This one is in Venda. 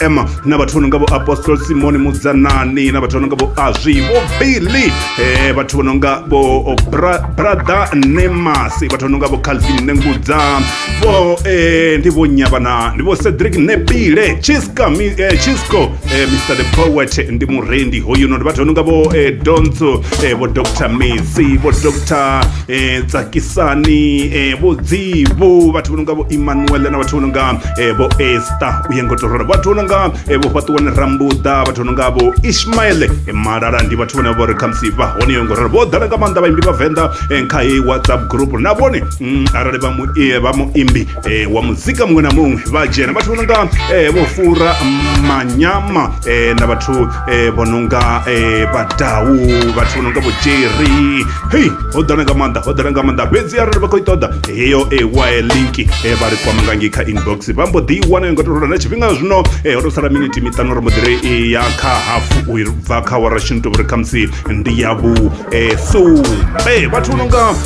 ema na vhathu vho no nga vho apostol simoni mudzanani na vhathu vho no nga vho azwi vho billy eh, vhathu vho no nga vho Bra- brother nemas vhathu vho no nga vho calvin nengudza vho eh, ndi vho nyavana ndi vho cedric nepile chiska mi, eh, chisco eh, mr the poet ndi murendi hoyuno ndi vhathu vho no nga vho eh, donso eh, vho dr mesi vho dr eh tsakisani eh vho dzivu vhathu vho nonga vho Emmanuel na vhathu vho nonga eh vho Esther u yengo torora vhathu vho nonga eh vho fhaṱuwani rambuḓa vhathu vho nonga vho Ishmael eh malala ndi vhathu vhane vho ri khamusi vha hone yengo torora vho ḓala nga maanḓa vhaimbi vhavenḓa eh kha heyi whatsapp group na vhone mm, arali vha mu eh, vha muimbi eh, wa muzika muṅwe na muṅwe vha dzhena vhathu vho nonga eh, vho fura manyama eh, na vhathu eh, vho nonga eh, badau vhathu vho nonga vho jerry hei ho ḓala nga maanḓa ho ḓala nga maanḓa fhedzi arali vha khou i ṱoḓa heyo eh, wa eh, link eh, vha ri kwama ngangi kha inbox vha mbo ḓi i wana yo ngo torola na tshifhinga zwino eh, ho to sala miniti miṱanu ri mbo ḓi ri eh, ya kha hafu u bva kha wara shini to vhuri khamusi ndi ya vhu eh, sumbe vhathu vho nonga